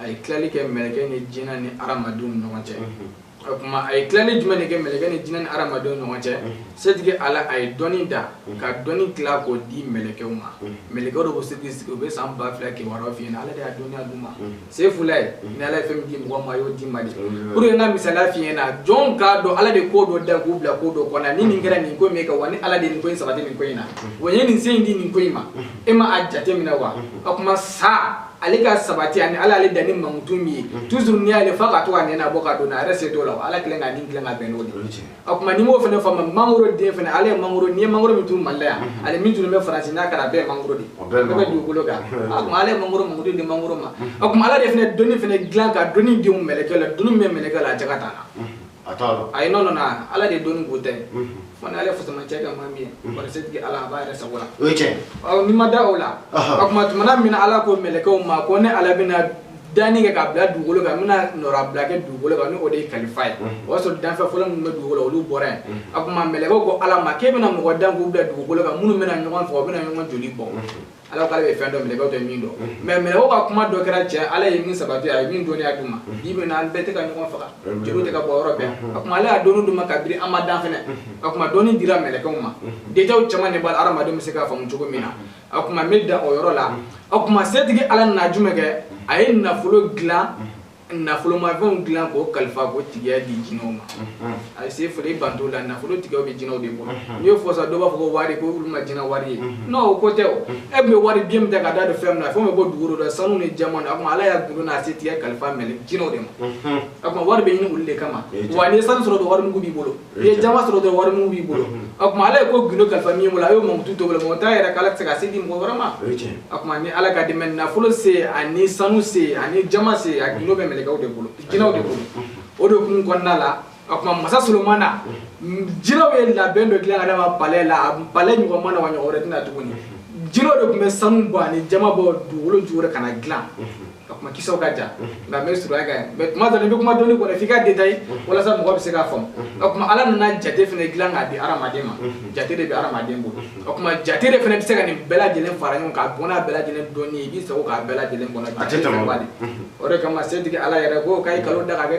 a ye tilali kɛ mɛlɛkɛ ni jinɛ ni hadamadenw ni ɲɔgɔn cɛ o tuma a ye tilali jumɛn de kɛ mɛlɛkɛ ni jinɛ ni hadamadenw ni ɲɔgɔn cɛ setigi ala a ye dɔnni da ka dɔnni tila k'o di mɛlɛkɛw ma mɛlɛkɛw de ko setigi sigi u bɛ san ba fila kibaruyaw f'i ɲɛna ala de y'a dɔnniya d'u ma sefula ye ni ala ye fɛn min di mɔgɔ ma a y'o d'i ma de pour que n ka misaliya f'i ɲɛna jɔn k'a dɔn ala de ko dɔ da k'u bila ko dɔ kɔnɔ ni nin kɛra nin ko in bɛ kɛ wa ni ala de ye nin ko in sabati nin ko in na wa n ye nin se in di nin ko in ma e ma a jate minɛ wa o tuma sa ale ka sabati ani ala ale danni mankutu min ye mhm. toujours n'i y'ale fa ka to ka nɛnɛ bɔ ka don a yɛrɛ se t'o la ala kelen k'a ni kelen ka bɛn n'o de ye o tuma n'i m'o fana faamu mangoro den fana ale ye mangoro n'i ye mangoro min turu mali la yan mhm. ani min turu bɛ faransi n'a kɛra a bɛɛ ye mangoro de ye bɛɛ bɛ dugukolo kan o tuma ale ye mangoro mankutu di mangoro ma mhm. o tuma ala de fana dɔnni fana dilan ka dɔnni don mɛlɛkɛ la dɔnni min bɛ mɛlɛkɛ la a jaka t'a la a t'a dɔn ayi non non ala de dɔnni b'u ta ye fana ale fasamacɛ ka maa min ye bari setigi ala a b'a yɛrɛ sago la o ye tiɲɛ ɔ n'i ma da o la o tuma tumana min na ala ko mɛlɛkɛw ma ko ne ala bɛna danni kɛ k'a bila dugukolo kan n bɛna nɔrabila kɛ dugukolo kan ni o de ye kalifa ye o y'a sɔrɔ danfɛn fɔlɔ minnu bɛ dugukolo olu bɔra yen a tuma mɛlɛkɛw ko ala ma k'e bɛna mɔgɔ dan k'u bila dugukolo kan minnu bɛna ɲɔgɔn faga u bɛna ɲɔgɔn joli bɔ ala k'ale bɛ fɛn dɔn mɛlɛkɛw tɛ min dɔn mais mɛlɛkɛw ka kuma dɔ kɛra cɛn ala ye min sabati a ye min dɔnniya d'u ma bi bi in na an bɛɛ tɛ ka ɲɔgɔn faga joliw tɛ ka bɔ yɔrɔ bɛɛ a kuma ale y'a dɔnni d'u ma kabiri an ma dan fana a kuma dɔnni dira mɛlɛkɛw ma déjà o caman de b'a la hadamadenw bɛ se k'a faamu cogo min na a kuma n bɛ da o yɔrɔ la a kuma setigi ala nana jumɛn kɛ a ye nafolo dilan nafolomafɛnw dilan k'o kalifa k'o tigiya di jinɛw ma a se foli banto la nafolo tigiya bɛ jinɛw de bolo n'i y'o fɔ sa dɔw b'a fɔ ko wari ko olu ma jinɛ wari ye n'o o ko tɛ o e tun bɛ wari biye min ta ka da don fɛn min na a fɛn bɛ bɔ dugukolo dɔ sanu ni jaman na o tuma ala y'a gundo n'a setigiya kalifa mɛlɛ jinɛw de ma o tuma wari bɛ ɲini olu de kama wa n'i ye sanu sɔrɔ dɔrɔn wari mugu b'i bolo i ye jaman sɔrɔ dɔrɔn wari mugu b'i bolo o tuma ala ye ko gundo kalifa min bolo a y'o mankutu to bolo mɔgɔ t'a yɛrɛ k'ala tɛ se ka se di mɔgɔ wɛrɛ ma o tuma ni ala ka dɛmɛ nafolo se ani sanu se ani jaman se a gundo bɛ mɛlɛkɛw de bolo jinɛw de bolo o de kun kɔnɔna la o tuma masa solomana jinɛw ye labɛn dɔ dilan k'a d'a ma palɛ la a palɛ ɲɔgɔn ma na wa ɲɔgɔn wɛrɛ tɛ na tuguni jinɛw de tun bɛ sanu bɔ ani jaman bɔ dugukolo jukɔrɔ ka n'a dilan o tuma kisaw ka jan nka n b'a surunya ka ɲɛ mɛ tuma dɔ la i bɛ kuma dɔnni kɔnɔ f'i k'a detaye walasa mɔgɔ bɛ se k'a faamu o tuma ala nana jate fana dilan k'a di hadamaden ma jate de bɛ hadamaden bolo o tuma jate de fana bɛ se ka nin bɛɛ lajɛlen fara ɲɔgɔn k'a bɔ n'a bɛɛ lajɛlen dɔnni ye i b'i sago k'a bɛɛ lajɛlen kɔnɔ jate fana b'a di o de kama setigi ala yɛrɛ ko k'a ye kalo da ka kɛ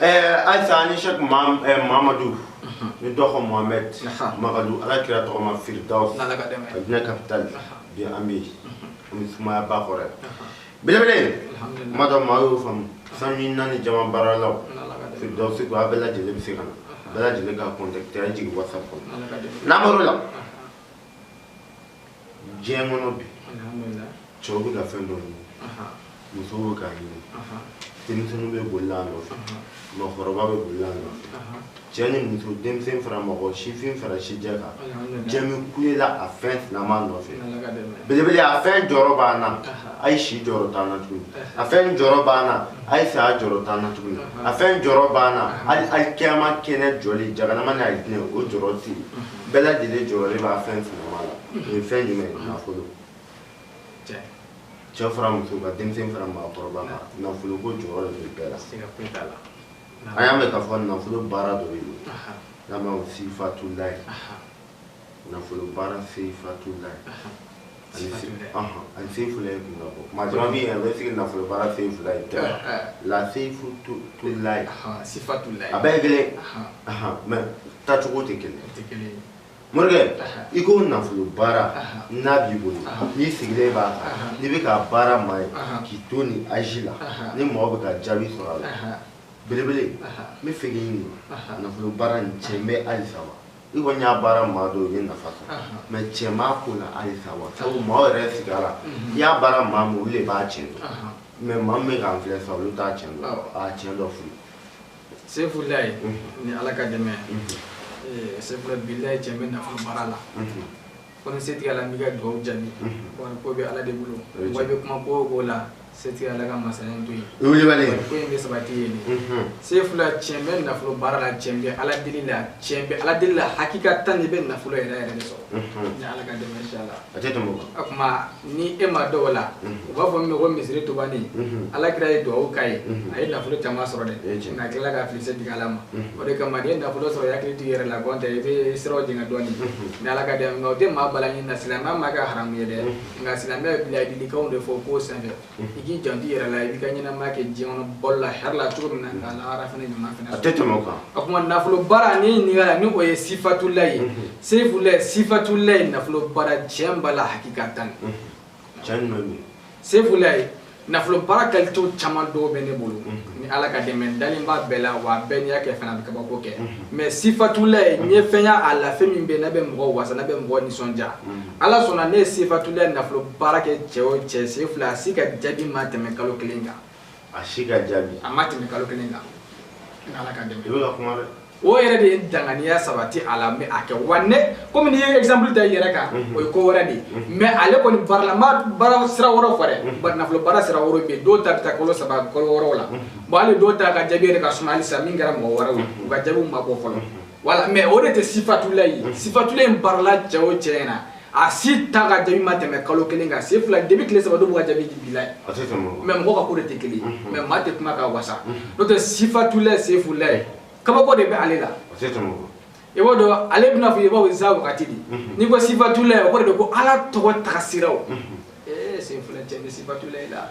Eh, ayisa ni sɛk eh, mamadu ni dɔgɔ mohamɛd magadu ala kira tɔgɔma firidawsi a diinɛ kapitali bi an bɛ yen an bɛ sumaya ba kɔrɔ yan belebele kuma dɔ maa y'o faamu san bi naani jama baaralaw firidawsi ko a bɛɛ lajɛlen bɛ se ka na bɛɛ lajɛlen k'an kɔntakite an jigin watisapu kɔnɔ nimɔrɔ la diɲɛ kɔnɔ bi cɛw bɛ ka fɛn dɔ ɲini musow bɛ k'a ɲini denmisɛnninw bɛ boli a nɔfɛ mɔgɔkɔrɔba bɛ boli a nɔfɛ cɛ ni muso denmisɛn fara mɔgɔ sifin fara sijɛ kan jama bɛ kule la a fɛn sinama nɔfɛ belebele a fɛn jɔrɔ b'an na a ye si jɔrɔ t'an na tuguni a fɛn jɔrɔ b'an na a ye saya jɔrɔ t'an na tuguni a fɛn jɔrɔ b'an na hali alikiyama kɛnɛ jɔli jahanama n'a ye o jɔrɔ tɛ yen bɛɛ lajɛlen jɔrɔ b'a fɛn fɛnma la o ye fɛn jumɛn ye nafolo cɛ fara muso kan denmisɛn fara maakɔrɔba kan nafolo ko jɔrɔ de bɛ bɛɛ la an y'a mɛn k'a fɔ nafolo baara dɔ bɛ yen n'a ma fɔ sifatulayi nafolo baara sifatulayi ani sefulayi kun bɔ maa caman bɛ yen a bɛ sigi nafolo baara sefulayi la sefulayi sifatula a bɛɛ ye kelen mɛ tacogo tɛ kelen morikɛ i ko nafolo baara n'a b'i bolo n'i sigilen b'a kan n'i bɛ ka baara maa ye k'i to ni azi la ni mɔgɔ bɛ ka jaabi sɔrɔ a la belebele n bɛ fɛ k'i ɲininka nafolo baara nin cɛn bɛ halisa wa i kɔni y'a baara maa dɔw ye nafa sɔrɔ mɛ cɛn b'a ko la halisa wa sabu maaw yɛrɛ sigi a la i y'a baara maa min olu de b'a tiɲɛ dɔn mɛ maa min bɛ k'an filɛ sa olu t'a tiɲɛ dɔn a tiɲɛ dɔ fili sefulayi ni ala ka dɛmɛ sefula bilayi cɛn bɛ nafolo baara la ko ni setigi ala m'i ka dugawu jaabi wari ko bɛ ala de bolo wa i bɛ kuma ko o ko la setigi ala ka masaya to yen ko in bɛ sabati yen sefula tiɲɛ bɛ nafolo baara la tiɲɛ bɛ ala deli la tiɲɛ bɛ ala deli la hakikatan i bɛ nafolo yɛrɛ yɛrɛ de sɔrɔ ni ala ka dɛmɛ inshallah a tɛ a kuma ni e ma dɔw la u b'a fɔ min ko misiri tubani ala kira ye dugawu k'a ye a ye nafolo caman sɔrɔ dɛ nka a tilala ka fili setigi ala ma o de kama n'i ye nafolo sɔrɔ i hakili t'i yɛrɛ la gɔntɛ i bɛ siraw jɛngɛ dɔɔni ni ala ka dɛmɛ nka o tɛ maa bala ɲini na silamɛya m'a kɛ haramu ye dɛ nka silamɛya bɛ laadilikanw de fɔ ko senfɛ i k'i janto i yɛrɛ la i b'i ka ɲɛnamaya kɛ diɲɛ kɔnɔ balo la hɛrɛ la cogo min na k'a lahara fana ɲuman fana a tɛ tɛmɛ o kan o tuma nafolo baara ni ɲininkali la ni o ye sifatulayi sefulayi sifatulayi nafolo baara tiɲɛ b'a la hakikatan cɛn ɲuman bɛ yen sefulayi nafolo baara kalitew caman dɔw bɛ ne bolo ni ala ka dɛmɛ n dalen b'a bɛɛ la wa a bɛɛ n'i y'a kɛ fana a bɛ kabako kɛ mɛ sifatulayi n ye fɛn y'a la fɛn min bɛ yen n'a bɛ mɔgɔ wasa n'a bɛ mɔgɔ nisɔndiya ala sɔnna ne ye sifatulayi nafolo baara kɛ cɛ o cɛ sefula a si ka jaabi ma tɛmɛ kalo kelen kan a si ka jaabi a ma tɛmɛ kalo kelen kan ni ala ka dɛmɛ i bɛ ka kuma dɛ o yɛrɛ de ye danganiya sabati a la mɛ a kɛ wa ne komi n'i ye exemple ta i yɛrɛ kan mhm. o ye ko wɛrɛ de ye mhm. mɛ ale kɔni baara la n ma baara sira wɛrɛw fɔ dɛ mhm. bari nafolo baara sira wɛrɛw bɛ yen dɔw ta bɛ taa kalo saba kalo wɔɔrɔ la bon hali dɔw ta ka jaabi yɛrɛ ka suma halisa min kɛra mɔgɔ wɛrɛw ye u ka jaabiw ma bɔ fɔlɔ wala mɛ o de tɛ sifatula ye sifatula in baarala cɛ o cɛ ɲɛna a si ta ka jaabi ma tɛmɛ kalo kelen kan sefula depuis tile saba dɔw b'u ka jaabi di bila mɛ mɔgɔ ka ko de tɛ kelen mɛ maa tɛ kuma ka wasa n'o tɛ sifatulayi sefulayi kabako de bɛ ale la i b'o dɔn ale bɛna fɔ i b'aw iza wagati de n'i ko sifatulayi o kɔrɔ de ko ala tɔgɔ tagasiraw ee sefula cɛ ni sifatulayi la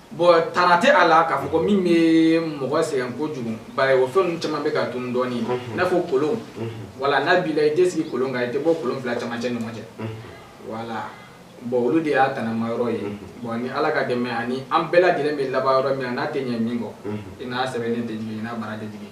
bɔn tana tɛ a la k'a fɔ ko min bɛ mɔgɔ sɛgɛn kojugu bari o fɛn ninnu caman bɛ ka tunu dɔɔni i n'a fɔ kolon wala n'a b'i la i tɛ sigi kolon kan i tɛ bɔ kolon fila camancɛ ni ɲɔgɔn cɛ wala bɔn olu de y'a tanama yɔrɔ ye bɔn ni ala ka dɛmɛ ani an bɛɛ lajɛlen bɛ laban yɔrɔ min na n'a tɛ ɲɛ min kɔ i n'a sɛbɛnnen tɛ jigin i n'a bara tɛ jigin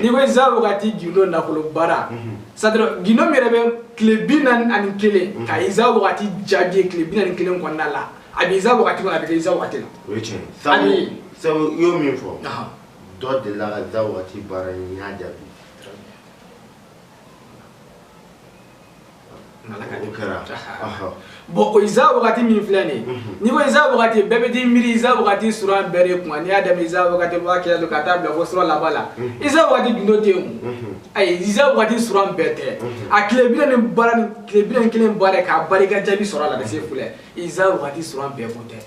n'i ko iza wagati gindo nafolo baara c'est-à-dire gindo min yɛrɛ bɛ tile bi naani ani kelen mhm. ka iza wagati jaabi ye tile bi naani kelen kɔnɔna la a bɛ iza wagati kɔnɔ a bɛ kɛ iza wagati la o ye tiɲɛ sabu sabu i y'o min fɔ dɔ delila ka iza wagati baara ye n y'a jaabi bɔn o iza wagati min filɛ nin mhm. n'i ko iza wagati bɛɛ bɛ t'i miiri iza wagati sura bɛɛ de kunna n'i y'a daminɛ iza wagati b'a kɛlɛ don ka taa bila fo sura laban la mhm. iza wagati gundo tɛ yen mhm. ayi iza wagati sura bɛɛ tɛ a tile bi naani baara ni tile bi naani kelen baara k'a baara i ka jaabi sɔrɔ a la ka se filɛ iza wagati sura bɛɛ ko tɛ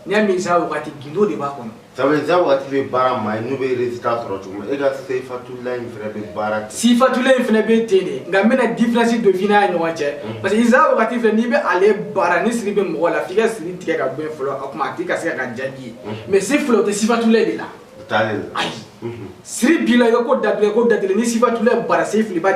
n'i y'a min sa wagati gindo de b'a kɔnɔ sabu sa wagati bɛ baara maa ye n'u bɛ résultat sɔrɔ cogo min e ka sifatula in fana bɛ baara ten sifatula in fana bɛ ten de nka n bɛna différence dɔ f'i n'a ɲɔgɔn cɛ parce que sa wagati filɛ n'i bɛ ale baara ni siri bɛ mɔgɔ la f'i ka siri tigɛ ka bɔ yen fɔlɔ o tuma a tigi ka se ka ka jaabi ye mais si filɛ o tɛ sifatula de la o t'ale la ayi siri b'i la i ka ko datugu ko datugu ni sifatula baara se fili ba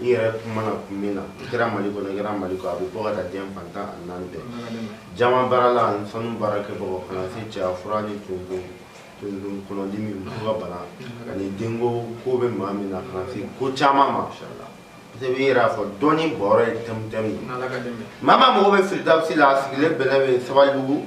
i yɛrɛ kumana kun min na i kɛra mali kɔnɔ i kɛra mali kɔ a bɛ bɔ ka taa diɲɛ fan tan ani naani bɛɛ jaman baarala ani sanu baarakɛbagaw ka na se cɛya fura ni tuntun tuntun kɔnɔdimi muso ka bana ani denko ko bɛ maa min na ka na se ko caman ma parce que i yɛrɛ y'a fɔ dɔnni bɔyɔrɔ ye tumutu ye maa maa mago bɛ firidawusi la a sigilen bɛlɛ bɛ sabalibugu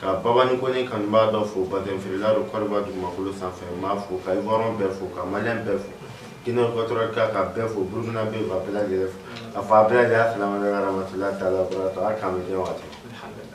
Ka baba ni kɔni kan b'a dɔ fo bafla don kɔrɔba dugumakolo sanfɛ n b'a fɔ ka bɔra bɛɛ fo ka ma bɛɛ fo jinɛinɛkɔrɔ kan ka bɛɛ fo burukina bɛ fɔ a bɛɛ lajɛlen a fa a bɛɛ lajɛlen fila matila ta la a kami waati